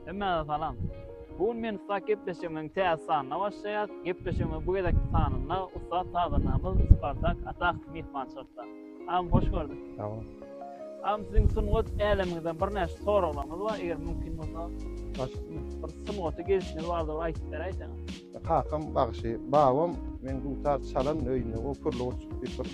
Hemmäňize salam. Bu gün men ussat gepleşigimiziň täze sanyna başlaýas. Gepleşigimiziň bu gezekki sanynda ussat sazandamyz Spartak Atakow myhmançylykda. Agam hoş gördük. Sag boluň. Agam siziň sungat älemiňizden birnäçe soraglarymyz bar eger mümkin bolsa. Başlasynmy? Bir sungaty gelşiňiz bardyr bir aýdyp beräýseňiz. Kakam bagşy, babam meň dutar çalan öýüne o pürli gurçuk diýip bir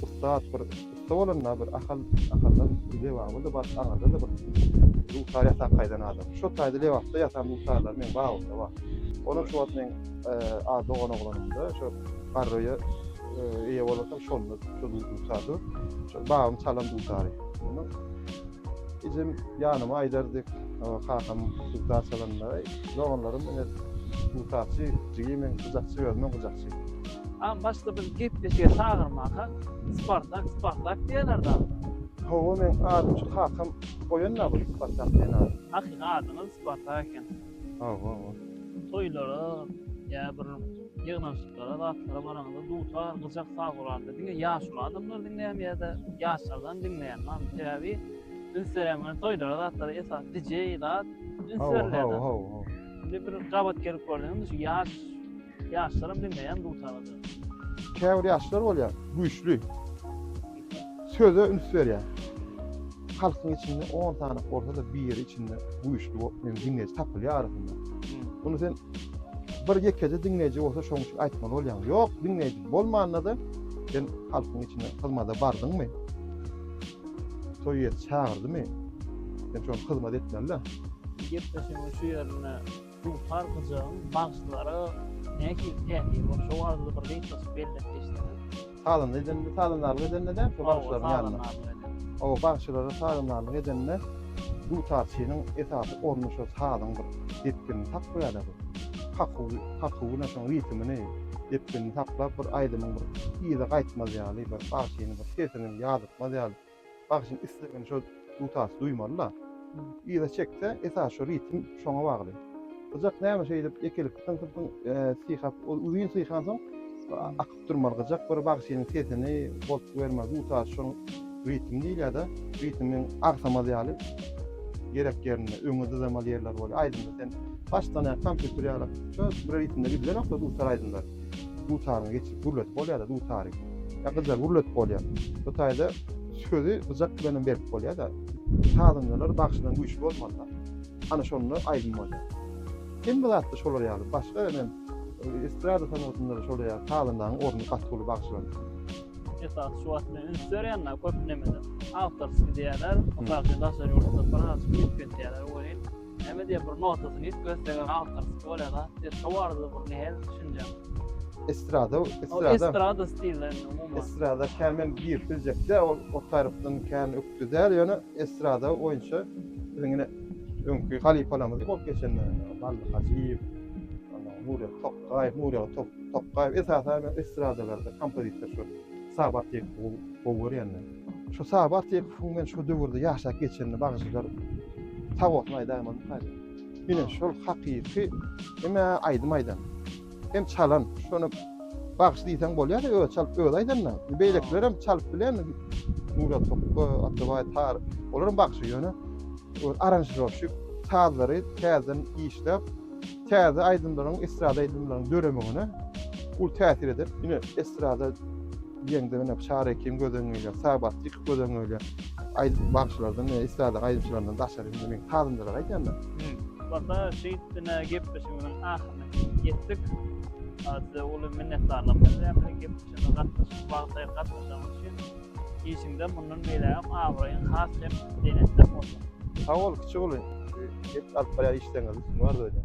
ussat bir ussa bolanda bir Ahal Ahaldan Lebaba-da bar, Aňyrda-da bir dutar ýasap gaýdan adam. Şo taýda Lebapda ýasan dutarlar meň babamda bar. Onam şu wagt meň a dogan oglanymda şo garröýe eýe bolasam şonda şo dutar dur. Şo babam çalan dutary. Ejem ýanyma aýdardy, kakam dutar çalanda, doganlarym ine dutarçy, jigi men gyjakçy, özümem gyjakçy. Aň başda bizi gepleşige çagyrmanka Spartak, Spartak diýerlerdi agam. Hawa, meň adym şu kakam goýan-da bu Spartak diýen ady. Hakyky adyňyz Spartak eken. Hawa, hawa. Toýlara, ýa bir ýygnanyşyklara, zatlara baranyňda dutar, gyjak saz uranda diňe ýaşuly adamlar diňleýärmi ýa-da ýaşlardan diňleýärmi mamu? Sebäbi üns berýän toýlara, zatlara esasy DJ zat üns berilýär. Hawa, hawa, hawa. Indi bir gabat gelip görseňiz, şu ýaş ýaşlaram diňleýär dutary. Käbir ýaşlar bolýar, güýçli. Söze üns berýän halkyň içinde on sany bolsa-da biri içinde güýçli bolup men diňleýji tapylýar arasynda. Muny sen bir ýekeje diňleýji bolsa şoň üçin aýtmaly bolýaň. Ýok, diňleýji bolmanda-da sen halkyň içine hyzmada bardyňmy? Sowet çagyrdymy? Sen şoň hyzmat etmeli-de. Gepleşigiň şu ýerinde Duşar gyjagyň bagşylara nähili täsiri bar? Şo barada bir gysgaça belläp geçseňiz. Salynda edende, salyndarlyk edende däl, şo bagşylaryň ýanynda. Hawa, bagşylara salyndarlyk edende dutarçynyň esasy orny şo sazyň bir depginini saklaýarlar. Kakuw, kakuwyny, şoň ritmini, depginini saklap, bir aýdymyň bir yza gaýtmaz ýaly, bir bagşynyň bir sesini ýazytmaz ýaly. Bagşyň islegini şo dutas duýmaly-da. Yza çekse, esasy şo ritm şoňa bagly. Gyjak näme şeýdip ýekelikde tyňsyp-tyň syhap, ol uzyn syhansoň akyp durmaly gyjak bir bagşynyň sesini bolup bermeli. Dutas şoň ritm diýilýär-de, ritmiň agsamaz ýaly gerek ýerinde, öňe dyzamaly ýerleri bolýar. Aýdymda sen başdan-aýak kompýuter ýaly, şo bir ritmde gidilenok-da dutar aýdymlar. dutaryny geçirip gürletip bolýar-da, dutary. Ýa gyjagy gürletip bolýar. Bu taýda sözi gyjak bilen hem berip bolýar-da. Sazandalar bagşydan güýçli bolmaly-da. Ana şonda aýdym bolýar. Hemme zatda şolar ýaly. Başga ine estrada sungatynda-da şolar ýaly sazandanyň orny gaty uly bagşylardan. Esasy şu wagt men üns berýän-de köp nemede awtorskiý diýýärler. Mysal üçin daşary ýurtda birazajyk üýtgetýärler welin, Näme diýip bir notasyny hiç göstegem awtorski bolýar-da. Siz şo barada bir nähel düşünjäň? Estrada, estrada. Estrada stilinde umuman. Estrada kämen girip biljekde ol o tarypdan kän ökde däl ýöne estrada boýunça biziň ine öňki halypalarymyz bolup geçenler Bally Hajyýew, Nury Tokgaýew, Nury Tokgaýew esasan estradalarda kompozitor şu Sabat diýip gowy görýänler. Şu sag bartyk fun men şu döwürde ýaşap geçenini bagşylar sag bolsun aýdaýma mukaýda. Ine şol hakyky eme aýdym aýdan. Hem çalan şony bagşy diýseň bolýar özi çalyp özi aýdanda. Beýlekiler hem çalyp bilen Murat Sokko, Atabaý Tar, olar hem bagşy ýöne aranžirowşik sazlary täzeden işläp Täze aýdymlaryň, estrada aýdymlaryň döremegine uly täsir eder. Ine, estrada diýende ine Şar Ekim göz öňüne gelýär, Sabat Dik göz öňüne gelýär. Aýdym bagşylardan, estrada aýdymçylaryndan daşary indi men sazandalary aýdýan da. Wata, şeýt ine gepleşigimiziň ahyryna ýetdik. Size uly minnetdarlyk bildirýän biziň gepleşigimize gatnaşyp, wagty aýyryp gatnaşanyňyz üçin. Işiňde mundan beýlägem abraýyň has hem belentden bolsun. Sag bol kiçi uly. Hepsi alyp barýar işleriňizi üstün bar bolsun.